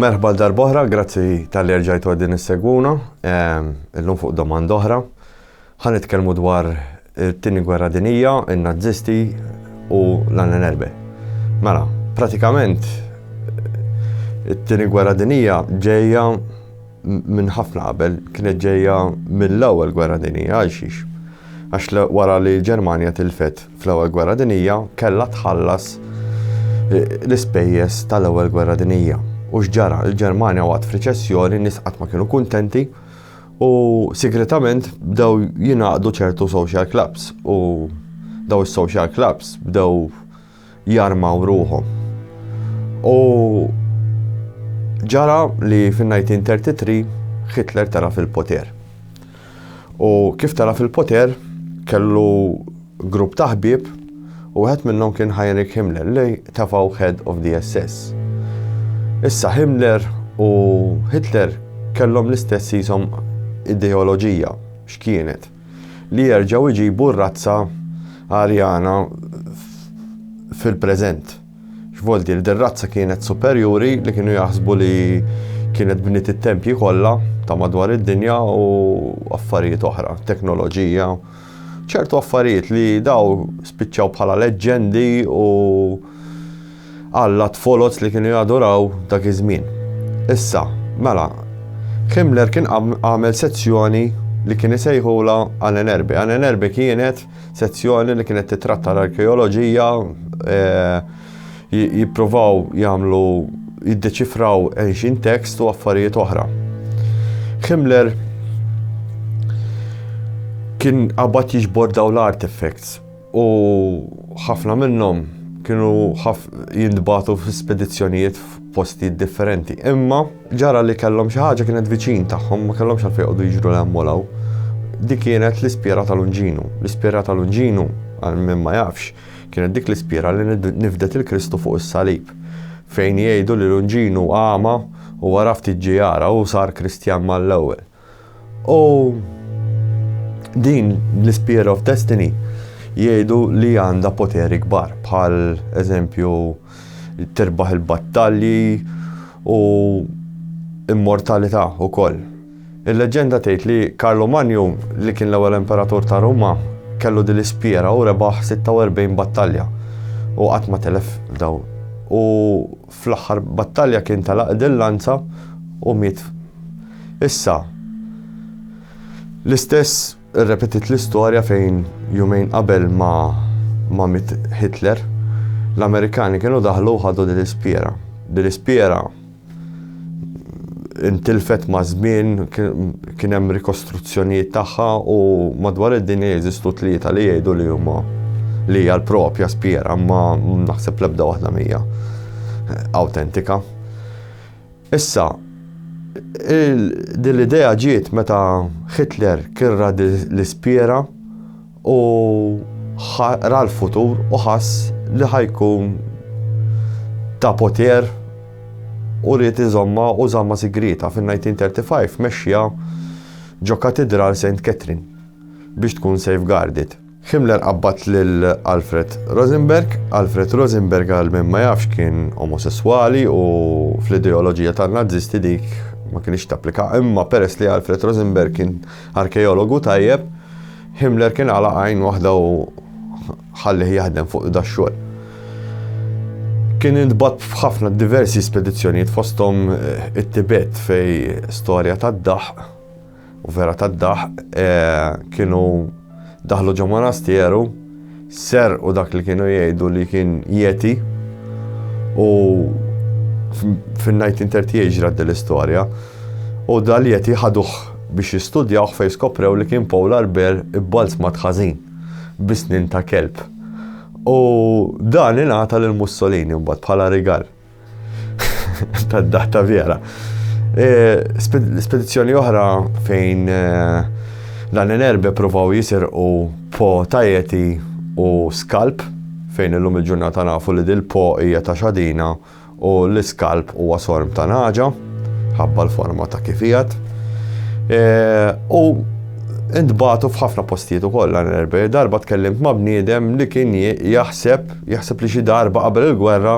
Merħba għal darb'oħra, grazzi tal-li rġajtu għaddin is-segwuna, illum fuq domanda oħra. Ħan itkellmu dwar it-tini gwerra dinija, il-nazzisti u l-annenerbe. Mela, pratikament, it-tini gwerra dinija ġeja minn ħafna qabel, kienet ġeja mill-ewel gwerra dinija, għal xiex. Għax wara li Ġermania tilfet fl-Ewwel Gwerra Dinjija kellha tħallas l-ispejjeż tal-Ewwel Gwerra Dinjija. U x'ġara? Il-Ġermanja waqgħet f'riċessjoni, n-nies qatt ma kienu kuntenti u sigretament bdew jingħaqdu ċertu social clubs u daw is-social clubs bdew jarmaw ruħhom. U ġara li fin-1933 Hitler tara fil-poter. U kif tara fil-poter, kellu grupp ta' ħbieb u wieħed minnhom kien Heinrich Himmler li tafgħu head of the SS. Issa Himmler u Hitler kellhom l-istess jisom ideoloġija x'kienet li jerġgħu jġibu r-razza Arjana fil-preżent. X'vol dir, din razza kienet superjuri li kienu jaħsbu li kienet bniet it-tempji kollha ta' madwar id-dinja u affarijiet oħra, teknoloġija, ċertu affarijiet li daw spiċċaw bħala leġġendi u alla tfoloz li kienu jaduraw dak iż-żmien. Issa, mela, Himmler kien għamel sezzjoni li kien isejħula Annenerbe. Annenerbe kienet Sezzjoni li kienet titratta l-arkeoloġija jippruvaw jagħmlu jiddeċifraw ancient text u affarijiet oħra. Himmler kien qabad jiġbor daw l-artifacts u ħafna minnhom kienu jintbatu f'spedizzjonijiet f'postijiet differenti. Imma Ġara li kellhom xi ħaġa kienet viċin tagħhom, ma kellhomx għalfejn joqogħdu jiġru 'l hemm u 'l hawn. Dik kienet l-ispjera ta' Lunginu. L-ispjera ta' Lunginu, għal min ma jafx, kienet dik l-ispjera li nifdet lil Kristu fuq is-salib. Fejn jgħidu li Lunginu għama, u wara ftit ġie jara u sar Kristjan mal-ewwel. U din l-Spear of Destiny jgħidu li għandha poteri kbar bħal eżempju tirbaħ il-battalji u immortalità ukoll. Il-leġenda tgħid li Karlo Manju li kien l-ewwel imperatur ta' Ruma kellu din l-ispiera u rebaħ 46 battalja u qatt ma telef daw. U Fl-aħħar battalja kien talaqgħet il-lanza u miet. Issa, l-istess irrepetiet l-istorja fejn jumejn qabel ma ma miet Hitler, l-Amerikani kienu daħlu u ħadu din l-ispjera. Din l-ispjera intilfet maż-żmien, kien hemm rikostruzzjonijiet tagħha u madwar id-dinja jeżistu tlieta li jgħidu li huma li hija l-propja spjera ma naħseb l-ebda waħda mija awtentika. Issa, din l-idea ġiet meta Hitler kirra l-ispjera U ħa ra l-futur u ħass li ħa jkun ta' poter u ried iżomma u żamma sigrieta fin-1935 mexxiha ġo Katidral Saint Catherine biex tkun safeguarded. Himmler qabbad lil Alfred Rosenberg. Alfred Rosenberg għal min ma jafx kien omosesswali u fl-ideoloġija tan-Nazisti dik ma kinitx tapplika imma peress li Alfred Rosenberg kien arkeologu tajjeb, Himmler kien għalaq għajn waħda u ħallih jaħdem fuq dax-xogħol. Kien intbat f'ħafna diversi spedizzjonijiet fosthom eh, it-Tibet fej storja tad-daħ u vera tad-daħ eh, kienu daħlu ġo monasteru Serqu dak li kienu jgħidu li kien Yeti u fin-1938 ġrat din l-istorja u dal-Yeti ħaduh biex jistudjawh fejn skoprew li kien polar bear ibbalzmat ħażin bi snien ta' kelb. U dan ingħata lil Mussolini mbagħad bħala rigal. Tad-data vera. E, spedizzjoni oħra fejn e, dan l-erbe provaw jisirqu po tajeti u skalp fejn illum il-ġurnata nafu li dil-po hija ta' xadina u l-iskalp huwa sorm ta' naġa ħabba l-forma ta' kifijat. E, u Intbatu f'ħafna postijiet ukoll għan erbe, darba tkellimt ma' bniedem li kien jaħseb, jaħseb li xi darba qabel il-gwerra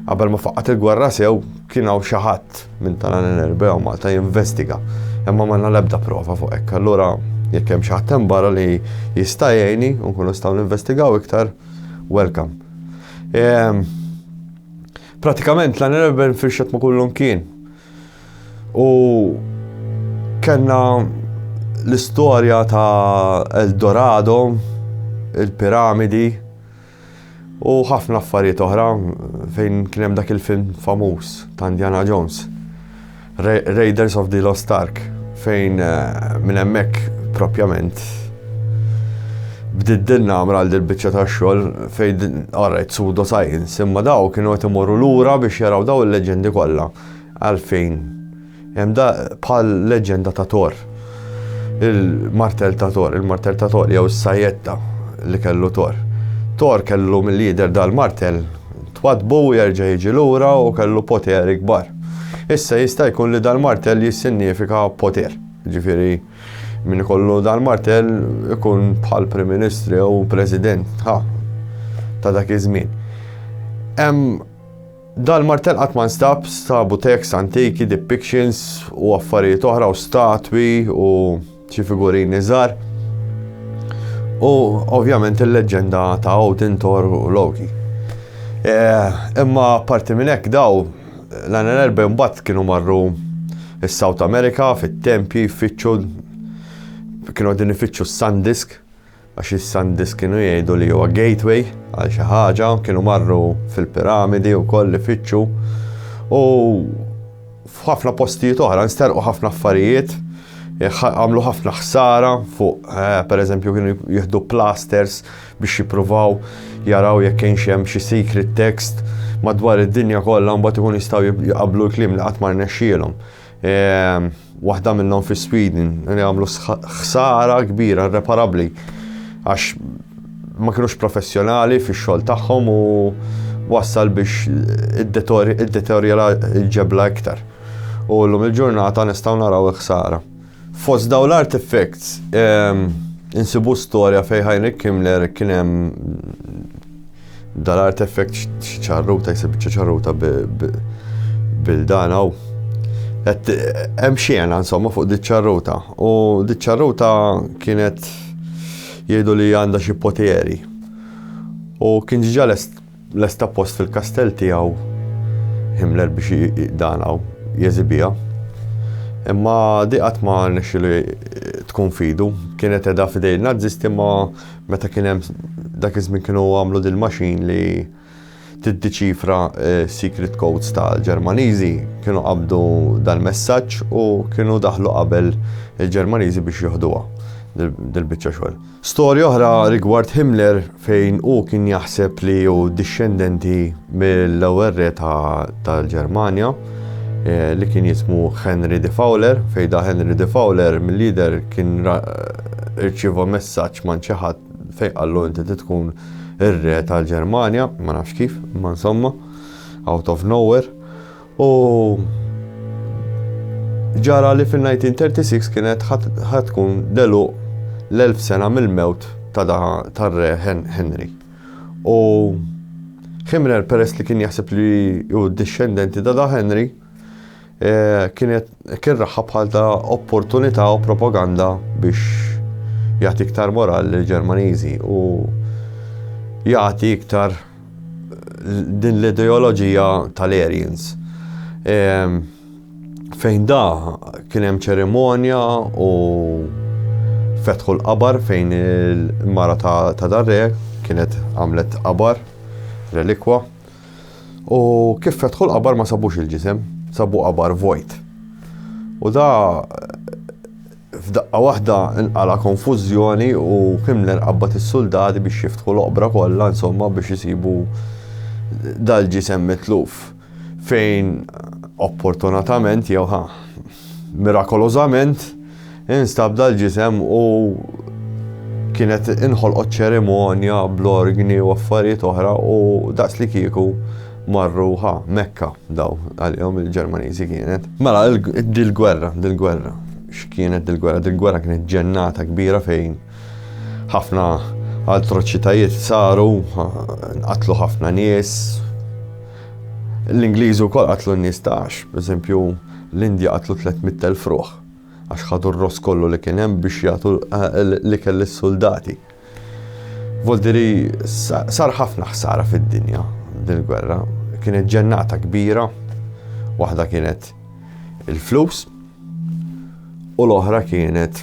Qabel ma faqqat il-gwerra sew, kien hawn xi ħadd minn Talan Enerbe jew Malta jinvestiga, imma m'għandna l-ebda prova fuq hekk. Allura jekk hemm xi ħadd hemm barra li jista' jgħinni u nkunu nistgħu ninvestigaw iktar, welcome. Ehm, pratikament Talan Enerbe nfirxet ma' kullum kien. U kellna l-istorja ta' Eldorado, il-piramidi, u ħafna affarijiet oħra fejn kien hemm dak il-film famuż ta' Indiana Jones. Ra Raiders of the Lost Ark fejn eh, minn hemmhekk propjament bdiet dinna għamra għal dil-bicċa ta' xogħol fejn għarrajt sudo science imma daw kienu qed imorru lura biex jaraw daw il-leġendi kollha għalfejn Hemm daqq bħal leġġenda ta' Thor. Il-martell ta' Thor, il-martell ta' Thor jew is-sajjetta li kellu Thor. Thor kellu milli jidher dal-martell twaddbu u jerġa' jiġi lura u kellu poteri kbar. Issa jista' jkun li dal-martell jissinnifika poter. Jiġifieri min ikollu dal-martell ikun bħal Prim Ministru jew President, ha, ta' dak iż-żmien. Hemm Dal-martell qatt ma nstab, stabu texts antiki, depictions u affarijiet oħra u statwi u xi figurini żgħar. U ovvjament il-leġġenda ta' Odin, Thor u Loki. Eh, imma parti minn hekk daw l-għana erba' mbagħad kienu marru s-South America fit-tempji, fitxu kienu għadin ifittxu s-Sandisk Għax is-Sandis kienu jgħidu li huwa gateway għal xi ħaġa, kienu marru fil-piramidi wkoll ifittxu u f'ħafna postijiet oħra nsterqu ħafna affarijiet, għamlu ħafna ħsara fuq, eh, per eżempju, kienu jihdu plasters biex jipruvaw jaraw jekk kien xem xi secret text madwar id-dinja kollha mbagħad ikun jistgħu jqablu l-kliem li qatt ma rnexxielhom. Waħda minnhom fi Sweden li għamlu ħsara kbira irreparabbli għax ma kienux professjonali fix-xogħol tagħhom u wassal biex id-deterjera il-ġebla iktar. U l-lum il-ġurnata nistaw naraw iħsara. Fost daw l-artifacts, insibu storja fej Heinrich Himmler kienem Dal artefekt xi ċarruta jsib biċċa ċarruta bildana u hemm xiena insomma fuq di ċarruta u di ċarruta kienet jgħidu li għandha xi poteri. U kien ġiġa lesta post fil-kastell tiegħu Himmler biex danaw jeżibija. Imma diqat ma nexxilu tkun fidu, kienet edha fidej nazisti ma Meta kien hemm dak iż-żmien kienu għamlu din il-machine li tiddiċifra eh, secret codes tal-Ġermaniżi, kienu qabdu dal-messaġġ u kienu daħlu qabel il-Ġermaniżi biex joħduha dil-biċċa xogħol. Storja oħra rigward Himmler fejn u kien jaħseb li hu dixxendenti mill-ewwel re tal-Ġermanja eh, li kien jismu Henry de Fowler, fejda Henry de Fowler mill-lider kien irċiva messaġġ man xi ħadd fejn qallu inti tkun ir-re tal-Ġermanja, ma nafx kif, ma insomma, out of nowhere. U ġara li fin-1936 kienet ħatkun delu l-1000 sena mill-mewt ta' tar-re Henry. U Himrel peress li kien jaħseb li hu dixxendenti ta' da Henry, eh, kienet kien raħħa bħal ta' opportunità u propaganda biex jagħti iktar moral lil Ġermaniżi u jagħti iktar eh, din l-ideoloġija tal-Aryans. Ehm, Fejn da kien hemm ċerimonja u fetħu l-qabar fejn il-mara ta' darre kienet għamlet qabar relikwa. U kif fetħu l-qabar ma sabux il-ġisem, sabu qabar vojt. U da F'daqqa waħda nqala' konfużjoni u Himmler qabbad is-suldati biex jiftħu l-oqbra kollha, insomma biex isibu dal-ġisem mitluf. Fejn opportunatament, jew ħa, mirakolożament, instab dal-ġisem u kienet inħolqot ċerimonja bl-orgni u affarijiet oħra u daqslikieku Marru ħa, Mekka, daw, għalihom il-Ġermaniżi kienet. Mela, dil-gwerra, dil-gwerra, x'kienet dil-gwerra? Dil-gwerra kienet ġennata kbira fejn ħafna atroċitajiet saru, qatlu ħafna nies. L-Ingliżi wkoll qatlu n-nies tax, pereżempju l-Indja qatlu 300,000 ruħ għax ħadu r-ross kollu li kien hemm biex jagħtu eh, li kelli s-soldati. Voldiri sar ħafna ħsara fid-dinja din il-gwerra. Kienet ġennata kbira, waħda kienet il-flus u l-oħra kienet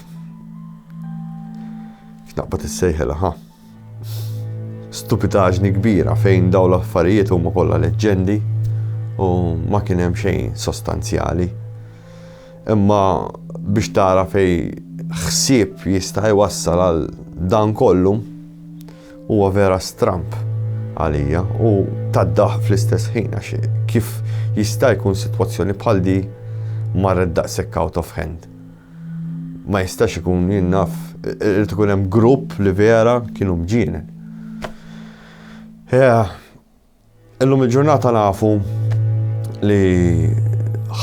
x'naqbad issejħilha ħa. Stupidaġni kbira fejn daw l-affarijiet huma kollha leġġendi u ma kien hemm xejn sostanzjali. Imma biex tara fej ħsieb jista' jwassal għal dan kollu huwa vera stramp għalija u taddaħ fl-istess ħin għax kif jista' jkun sitwazzjoni bħal di marret daqshekk out of hand. Ma jistax ikun jinnaf irid ikun hemm grupp li vera kienu mġienen. Yeah. Illum il-ġurnata nafu li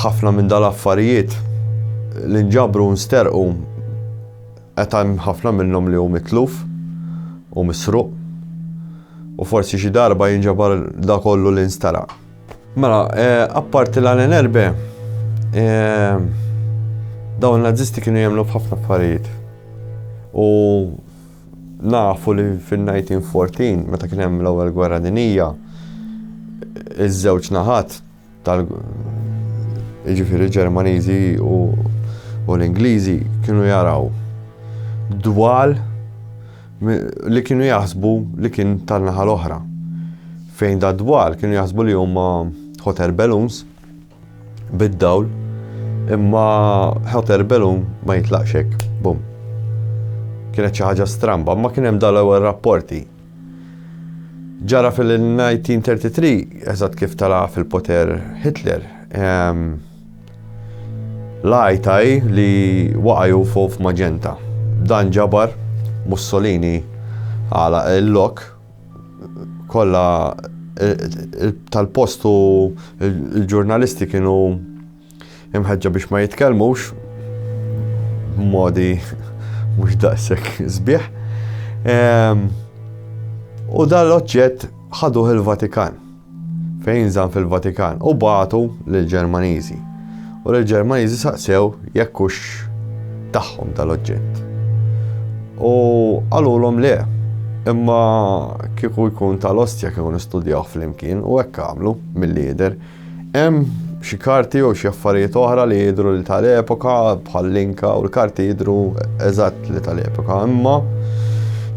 ħafna minn dal-affarijiet li nġabru nsterqu qed hemm ħafna minnhom li hu mitluf u misruq u forsi xi darba jinġabar da kollu li nsteraq. Mela, eh, apparti l-għalen erbe, eh, dawn nazisti kienu jemlu b'ħafna affarijiet. U Nafu li fin-1914, meta kien hemm l-Ewwel Gwerra Dinija, iż-żewġ naħat tal jiġifieri Ġermaniżi u l-Ingliżi kienu jaraw dwal li kienu jaħsbu li kien tan-naħa l-oħra. Fejn da dwal kienu jaħsbu li huma hot air balloons bid-dawl, imma hot air balloon ma jitlaqx hekk, bum. Kienet xi ħaġa stramba, ma kien hemm dal-ewwel rapporti. Ġara fil-1933, eżatt kif tala fil-poter Hitler, ehm, lajtaj li waqaju fuq f'maġenta. Dan ġabar Mussolini għala il-lok kollha tal-post u l-ġurnalisti kienu imħeġġa biex ma jitkellmux modi mhux daqshekk sbieħ. Ehm, u dal-oġġett ħaduh il-Vatikan. fejn jinżamm fil-Vatikan u bagħtu lill-Ġermaniżi u l-Ġermaniżi saqsew jekk hux tagħhom dal-oġġett. U qalulhom le, imma kieku jkun tal-ostja kieku nistudjaw flimkien u hekk għamlu mill-lider. Hemm xi karti jew xi affarijiet oħra li jidru li tal-epoka bħal-linka u l-karti jidru eżatt li tal-epoka, imma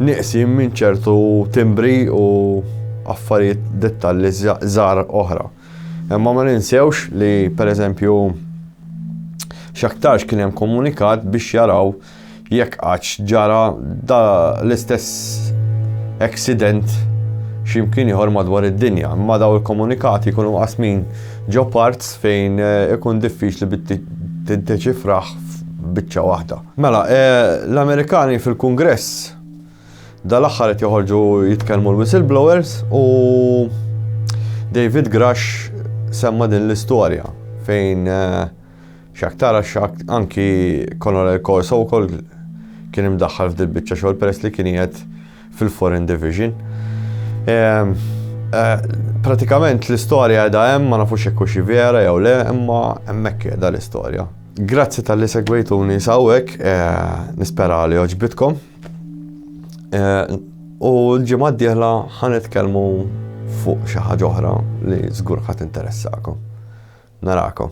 nieqsin minn ċertu timbri u affarijiet dettalli żgħar oħra. Imma ma ninsewx li pereżempju x'aktarx kien hemm komunikat biex jaraw jekk qatt ġara da l-istess accident x'imkien ieħor madwar id-dinja. Imma daw il-komunikati jkunu qasmin ġo parts fejn eh, ikun diffiċli bit tiddeċifraħ biċċa waħda. Mela, l-Amerikani fil-Kungress dal-aħħar qed joħorġu jitkellmu l-whistleblowers u David Grush semma din l-istorja fejn eh, xaktara xakt anki Conor Corso wkoll kien imdaħħal f'dil biċċa xogħol peress li kien qiegħed fil-Foreign Division. Pratikament l-istorja edha hemm ma nafux jekk xi vera jew le, imma hemmhekk qiegħda l-istorja. Grazzi tal-li segwejtuni sawek, nispera li oġbitkom. U l-ġimgħa d-dieħla ħanitkellmu fuq xi ħaġa oħra li żgur ħadd interessakom. Narakom.